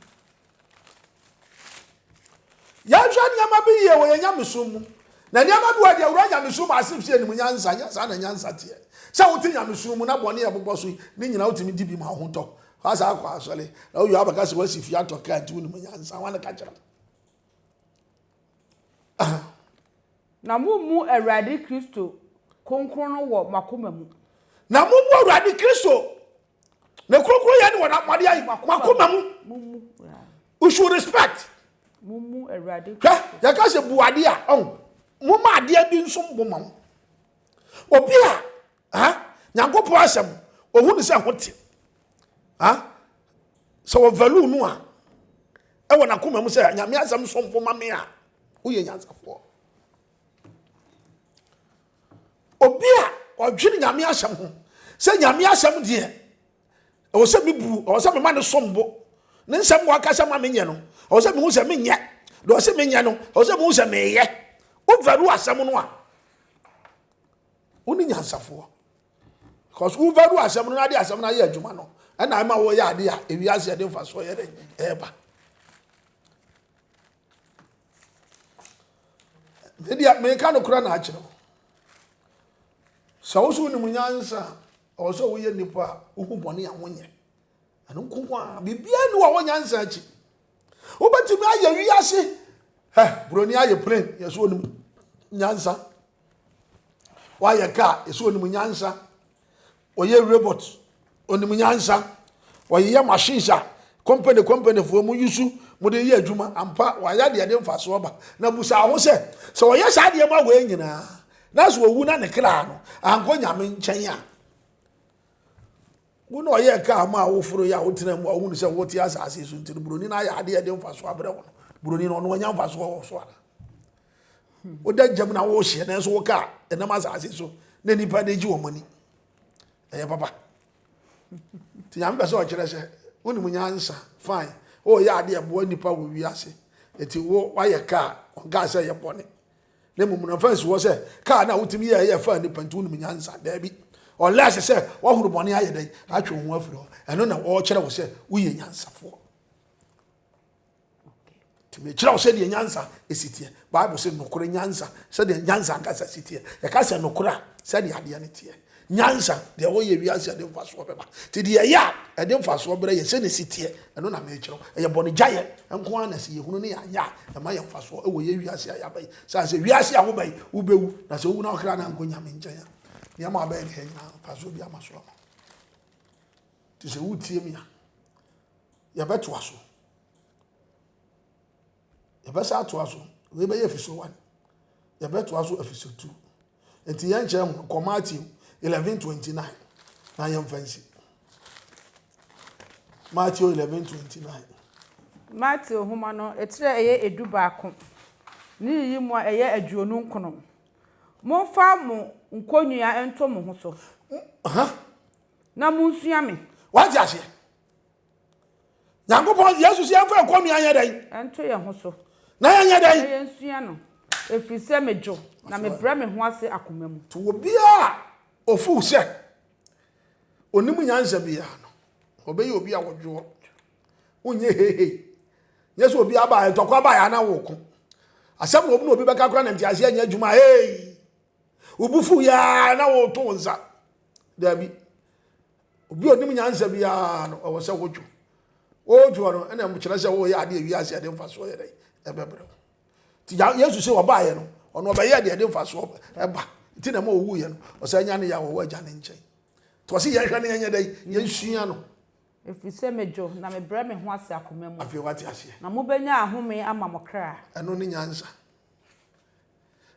Yɛnhwɛ nneɛma bi yie wɔ yɛn nyamesom mu. Na nneɛma bi wɔ deɛ wura nyamesom ase fi anim nyansa nyɛ saa na nyansa teɛ. Sɛ wote nyamesom mu na bɔne a ɛbobɔ so yi ne nyinaa wotumi di bi ma ho tɔ. Wasa akɔ asɔre na woyɛ abɛka sɛ wasi fie atɔ kaa nti wonim nyansa. Wɔn ka kyerɛ Na mommu Awurade Kristo kronkron no wɔ mo akoma mu. Na mommu Awurade Kristo ne kronkron yɛ ne wɔn mɔde ayi mo akoma mu. You should respect. Mommu Awurade Kristo. Hwɛ, yɛka sɛ bu adeɛ a, ɔn, momma adeɛ bi nso mmɔ ma mo. Obi a ah nyankopɔn asɛm ohu ne sɛ ɛho te ah sɛ wɔ value no a ɛwɔ n'akoma mu sɛ nyame asɛm somfo ma me a woyɛ nyansafoɔ obi a ɔdwene nyame asɛm ho sɛ nyame asɛm deɛ ɛwɔ sɛ mebu ɛwɔ sɛ mema ne som bo ne nsɛm wɔ akasa ma menyɛ no ɛwɔ sɛ mehu sɛ menyɛ deɛ ɔsɛ menyɛ no ɛwɔ sɛ mehu sɛ meyɛ wovalu asɛm no a Wo ne nyansafoɔ. Because wo value asɛm no na de asɛm no ayɛ adwuma no. Ɛna ɛma wɔyɛ ade a ewi ase ɛde nfa so yɛ dɛ ɛɛba. Media meka no kora na akyerɛ wo. Sɛ wo so wonim nyansa a ɔwɔ sɛ woyɛ nipa a wohu bɔne a wonyɛ. Ɛno nko ho a biribiara ni wɔ wo nyansa akyi. Wobɛtumi ayɛ wi ase. Hɛ, buroni ayɛ plane yɛ so onim nyansa. Wayɛ kaa, ɛsɛ onim nyansa. Ɔyɛ robot, onim nyansa. Ɔyeyɛ machines a company company foɔ mu yusu mo de yɛ adwuma ampa wayɛ adeɛ ɛde mfasoɔ ba na busa ho sɛ sɛ ɔyɛ saa adeɛ ma wei nyinaa na sɛ ɔwu na ne kra no ankɔ nyame nkyɛn a Wo na ɔyɛɛ kaa maa wo foroe a wotenaa mu a wohunu sɛ wote asase so nti no, buroni no ayɛ ade a ɛde mfaso abrɛ wo no, buroni no, ɔno wanya mfaso wɔ wo so anaa? Woda gyam na wohyeɛ nanso wo kaa ɛnam asase so na nnipa de gye wɔn ani. Ɛyɛ papa. Nti Nyame pɛ sɛ ɔkyerɛ sɛ wonim nyansa, fine, woyɛ ade a ɛboa nnipa wɔ wiase, ɛti wo wayɛ kaa, ɔnkaa sɛ ɛyɛ bɔne. Na mmom na mfa nsi hɔ sɛ kaa no a wotumi yɛɛ yɛ faa nnipa nti wonim nyansa. Dabi. Ɔlɛse sɛ woahoro bɔne ayɛ dɛn atwe wo ho afiri hɔ. Ɛno na ɔrekyerɛ wo sɛ woyɛ nyansafoɔ. Nti mekyerɛ wo sɛdeɛ nyansa si teɛ. Bible sɛ nokorɛ nyansa sɛdeɛ nyansa ankasa si teɛ. Yɛka sɛ nokorɛ a sɛdeɛ adeɛ no teɛ. Nyansa, deɛ wɔyɛ wiase a ɛde mfasoɔ bɛba, nti deɛ ɛyɛ a ɛde mfasoɔ brɛ yɛn sɛ ne si teɛ, ɛno na merekyerɛw. Ɛyɛ bɔne gyaeɛ nko ara na sɛ yɛhunu ne yɛanyɛ a, ɛma yɛn mfasoɔ wɔ yɛn wiase a yɛaba yi. Sane sɛ wiase a woba yi, wobɛwu, na sɛ wowu na wo kra no ankɔ Nyame nkyɛn a, nneɛma a wobɛyɛ ne ha nyinaa mfasoɔ bi ama so ama Nti sɛ wotie me a, yɛbɛtoa so. Yɛbɛsan atoa so. Wei bɛyɛ episode one. Yɛbɛtoa so episode two. Nti yɛn kyerɛ ho kɔ Matthew eleven twenty nine na yɛn fa nsi. Matthew eleven twenty nine. Matthew nhoma no etire a ɛyɛ edu baako ne yiyi mu a ɛyɛ aduonu nkono. Monfa mo nkonnua nto mo ho so. Huh? Na monsua me. Wate aseɛ? nyankopɔn yesu sɛ yɛmfa ɛkɔ nua yɛ dɛn ɛnto yɛ ho so na yɛnyɛ dɛn na yɛnsua no ɛfiri sɛ medwo na mebrɛ me ho ase akoma mu to obiaa ɔfuu sɛ ɔnim nyansa biaa no ɔbɛyɛ obi a wɔdwoɔ wonyɛ heihei nyɛ sɛ obi aba ɛtɔkwa ba yɛ ana woko asɛm na obi na obi bɛka kora na nteaseɛ nyɛ adwuma hei wobufu yɛ na woto nsa daabi Obi a onim nyansa biara no, ɛwɔ sɛ wodwo. Wodwo no, ɛna ɛkyerɛ sɛ woyɛ adeɛ wiase a ɛde mfasoɔ yɛ dɛ ɛbɛbrɛ wo. Nti Yesu sɛ ɔbaeɛ no, ɔno ɔbɛyɛɛ deɛ ɛde mfasoɔ ɛba. Nti na ɛma ɔwuiɛ no, ɔsɛ anya ne yɛ a wɔwɔ agya ne nkyɛn. Nti ɔse yɛnhwɛ ne yɛnyɛ dɛ, yɛnsua no. Ɛfiri sɛ medwo, na mebrɛ me ho ase akoma mu. Afei wate aseɛ. Na mobɛnya ahome ama mo kra. Ɛno ne nyansa.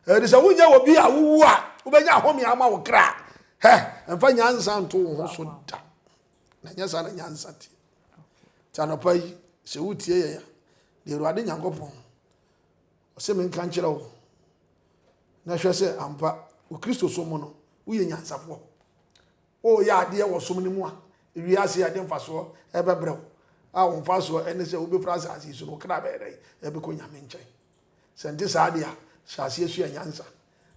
Ɛde sɛ wonyɛ wɔ bi a wowu a wobɛnya ahome ama wo kra. Hɛ, ɛmfa nyansa nto wo ho so da. Na nyɛ saa na nyansa tie. Nti anɔpa yi, sɛ wotie yɛn a, deɛ Awurade Nyankopɔn, ɔsɛ me nka nkyerɛ wo, na hwɛ sɛ ampa wo Kristo som mu no, woyɛ nyansafoɔ. Woyɛ adeɛ wɔ som no mu a, wiase a ɛde mfasoɔ ɛbɛbrɛ wo, a wo mfasoɔ ɛne sɛ wobɛfiri asase so no, wo kra bɛyɛ dɛ, ɛbɛkɔ Nyame nkyɛn. Sɛ ɛnte saa de a, hyɛ aseɛ sua nyansa.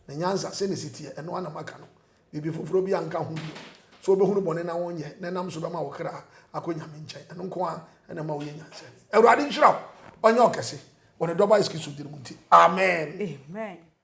Na nyansa, sɛdeɛ ɛsi teɛ, ɛno ara na maka no. Biribi foforɔ biara nka ho bio. Sɛ wobɛhunu bɔne na wonyɛ, na ɛnam so bɛma wo kra akɔ Nyame nkyɛn, ɛno nko ara na ɛma woyɛ nyansani. Awurade nhyira wo, ɔnyɛ wo kɛse, wɔ Ne dɔba Yesu Kristo din mu nti, amen.